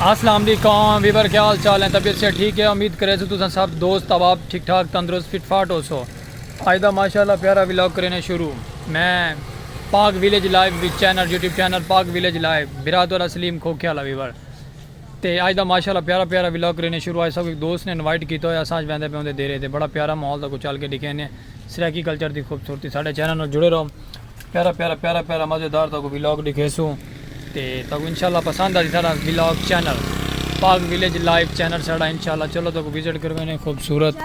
السلام علیکم ویور کیا حال چال ہیں طبیعت سے ٹھیک ہے امید کرے سو تساں سب دوست احباب ٹھیک ٹھاک تندرست فٹ فاٹ ہو سو اج دا ماشاءاللہ پیارا ولاگ کرنے شروع میں پاک ویلیج لائیو وچ channel YouTube channel Pak village live برات والا سلیم کھوکھے والا ویور تے اج دا ماشاءاللہ پیارا پیارا ولاگ کرنے شروع اج سب ایک دوست نے انوائٹ کیتا ہویا اساں اج ویندے پے ہوندے دیرے تے بڑا پیارا ماحول دا کو چل کے دکھینے سرائیکی کلچر دی خوبصورتی ساڈے چینل نال جڑے رہو پیارا پیارا پیارا پیارا مزیدار تاکو ویلاگ دکھیسوں تے تاکو انشاءاللہ پسند آ جی سارا vlog channel Pak village live channel سارا انشاءاللہ چلو تاکو وزٹ کروے نے خوبصورت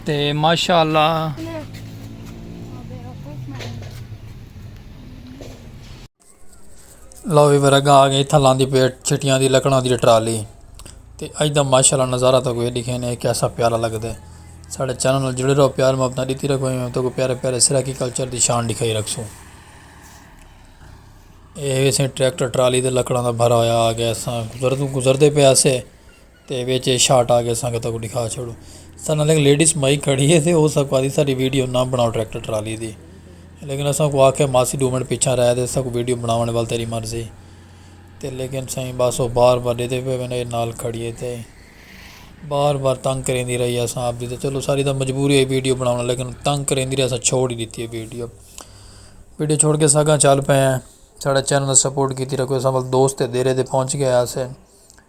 تے ماشاءاللہ لو وی میرا گا آگے اتھا لاندی پیٹ چھٹیاں دی لکڑاں دی ٹرالی تے اج دا ماشاءاللہ نظارہ تاکو یہ دکھے نے کیسا پیارا لگ دے ساڑھے چینل نال جڑے رہو پیار محبت دیتی رکھو ہی میں تاکو پیارے پیارے سرائیکی کلچر دی شان دکھائی رکھ سوں یہ ویسے ٹریکٹر ٹرالی دے لکڑاں دا بھرا ہویا آگے ساں گزردے پہ آسے. تے وچ اے شاٹ آ کے سنگتاں کوں ڈکھا چھوڑوں سناں لیکن لیڈیز مائی کھڑی ہے تے او ساکوں آکھدی ساڈی ویڈیو نہ بنڑاؤ ٹریکٹر ٹرالی دی لیکن اساں کوں آکھیا ماسی ڈو منٹ پیچھے رہ تے اساں کوں ویڈیو بنڑاوݨ ول تیڈی مرضی تے لیکن سائیں بس او بار بار ڈیدھے پئے ویندے نال کھڑی ہے تے بار بار تنگ کریندی رہی ہے اساں آپدی تے چلو ساڈی تاں مجبوری ہے ویڈیو بنڑاوݨ لیکن تنگ کریندی رہی اساں چھوڑ ہی ڈتی ہے ویڈیو ویڈیو چھوڑ کے اساں اگاں چل پئے ہیں ساڈا چینل سپورٹ کیتی رکھو اساں ول دوست تے دیرے تے پہنچ گئے آسے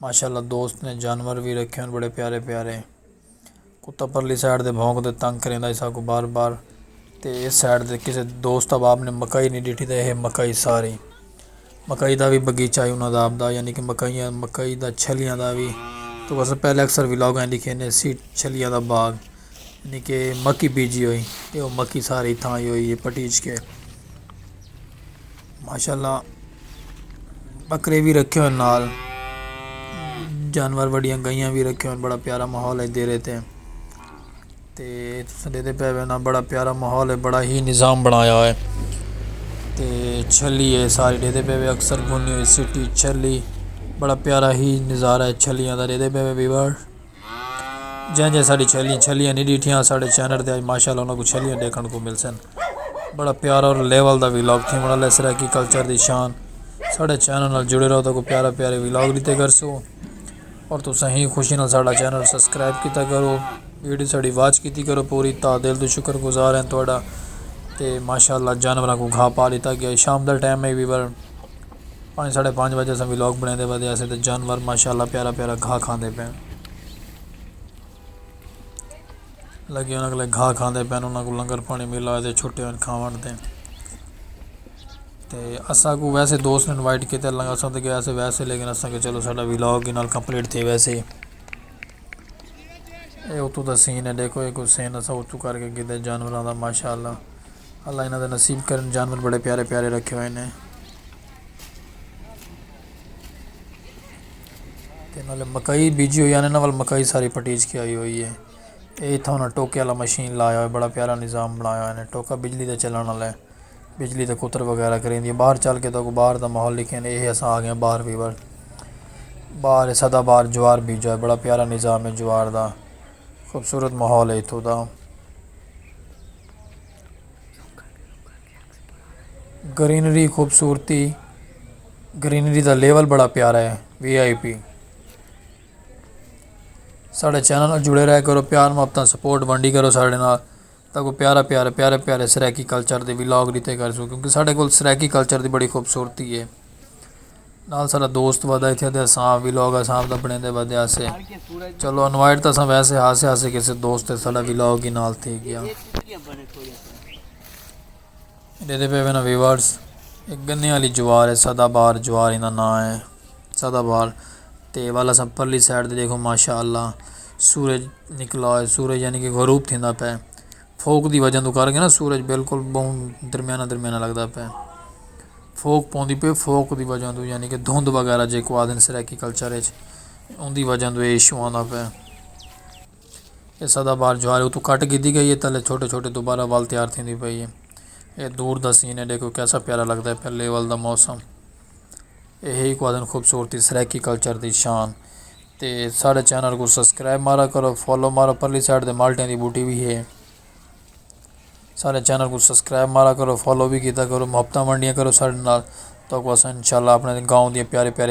ماشاءاللہ دوست نے جانور وی رکھے ہن بڑے پیارے پیارے کتا پرلی سائیڈ دے بھونک دے تنگ کریندا ہی ساکوں بار بار تے اس سائیڈ دے کسے دوست احباب نے مکئی نہیں ڈیٹھی تے ہے مکئی ساری مکئی دا وی بگیچہ ہے انہاں دا آپ دا یعنی کہ مکئیاں مکئی دا چھلیاں دا وی تو بس پہلے اکثر ولاگ ہیں لکھے نے سی چھلیاں دا باغ یعنی کہ مکی بیجی ہوئی تے وہ مکی ساری تھاں ہوئی ہے پٹیچ کے ماشاءاللہ بکرے وی رکھے ہوئے نال جانور وڈیاں گائیاں وی رکھے ہوئے بڑا پیارا ماحول ہے دیرے تے تے تساں ڈیکھدے پے ہووے نا بڑا پیارا ماحول ہے بڑا ہی نظام بنایا ہوئے تے چھلی ہے سارے ڈیکھدے پے ہووے اکثر گھنی ہوئی سٹی چھلی بڑا پیارا ہی نظارہ ہے چھلیاں دا ڈیکھدے پے ہووے ویور۔ جئیں جئیں ساڈی چھیلیاں چھیلیاں نی ڈیٹھیاں اساڈے چینل تے اج ماشاءاللہ انہاں کوں چھیلیاں ڈیکھن کوں ملسن بڑا پیارا اور لیول دا ولاگ تھیون والا ہے سرائیکی کلچر دی شان ساڈے چینل نال جڑے رہو تاکو پیارا پیارے ولاگ ڈتے کرسو اور تساں ہی خوشی نال ساڈا چینل سبسکرائب کیتا کرو ویڈیو ساڈی واچ کیتی کرو پوری تا دل تو شکر گزار ہیں تہاڈا تے ماشاءاللہ جانوراں کوں گھا پا لیتا گیا شام دا ٹائم ہے ویور پنج ساڑھے پنج وجے اساں ولاگ بنڑیندے ودے آسے تے جانور ماشاءاللہ پیارا پیارا گھا کھاندے پئن لگے انہاں کولے گھا کھاندے پئن انہاں کو لنگر پانی ملا ہوئے تے چھٹے ہوئے کھاون تے تے اساں کو ویسے دوست نے انوائٹ کیتے لنگر اساں تے گیا سے ویسے لیکن اساں کہ چلو ساڈا ولاگ انہاں نال کمپلیٹ تھے ویسے اے اتو دا سین ہے دیکھو اے کوئی سین اساں اتو کر کے کیتے جانوراں دا ماشاءاللہ اللہ انہاں دا نصیب کرن جانور بڑے پیارے پیارے رکھے ہوئے نے تے نالے مکئی بیجی ہوئی آنے نال مکئی ساری پٹیج کے آئی ہوئی ہے اے تھا انہاں ٹوکے والا مشین لایا ہوئے بڑا پیارا نظام بنایا ہوئے نے ٹوکا بجلی دے چلن والا ہے بجلی دے کتر وغیرہ کریں دی باہر چل کے تو کو باہر دا ماحول لکھیں نے اے اساں آگئے باہر بھی بار باہر سدا باہر جوار بیجا ہے بڑا پیارا نظام ہے جوار دا خوبصورت ماحول ہے اتھو دا گرینری خوبصورتی گرینری دا لیول بڑا پیارا ہے وی آئی پی ساڑھے چینل نال جڑے رہے کرو پیار محبتاں سپورٹ ونڈی کرو ساڑھے نال تاں کو پیارا پیارا پیارے پیارے سرائیکی کلچر دے ولاگ ڈتے کرسوں کیونکہ ساڑھے کول سرائیکی کلچر دی بڑی خوبصورتی ہے۔ نال ساڈا دوست ودا اتھے تے اساں آپ ویلاگ اساں آپ دا بنڑیندے ودے ہاسے چلو انوائٹ تاں اساں ویسے ہاسے ہاسے کسے دوست تے ساڈا ویلاگ ہی نال تھی گیا ڈیدے پے وینا ویورز ایک گنے والی جوار ہے سدا بار جوار ہندا نا ہے سدا بار تے والا سا پرلی سائیڈ تے دیکھو ماشاءاللہ سورج نکلا ہے سورج یعنی کہ غروب تھیندا پے فوک دی وجہ توں کر کے نا سورج بالکل بہوں درمیانہ درمیانہ لگدا پئے فوک پوندی پئے فوک دی وجہ توں یعنی کہ دھند وغیرہ جیکو آدھن سرائیکی کلچر اچ ان دی وجہ توں ایشو آندا پئے یہ سدا بار جوار اتو کٹ گیتی گئی ہے تلے چھوٹے چھوٹے دوبارہ ول تیار تھی دی پئی ہے یہ دور دا سین ہے دیکھو کیسا پیارا لگدا ہے پھر لیول دا موسم یہ ہی کو آدھن خوبصورتی سرائیکی کلچر دی شان تے ساڈے چینل کوں سبسکرائب مارا کرو فالو مارو پرلی سائیڈ تے مالٹیاں دی بوٹی وی ہے ساڈے چینل کوں سبسکرائب مارا کرو فالو وی کیتا کرو محبتاں ونڈیاں کرو ساڈے نال تو اساں انشاءاللہ اپنے گاؤں دی پیارے پیارے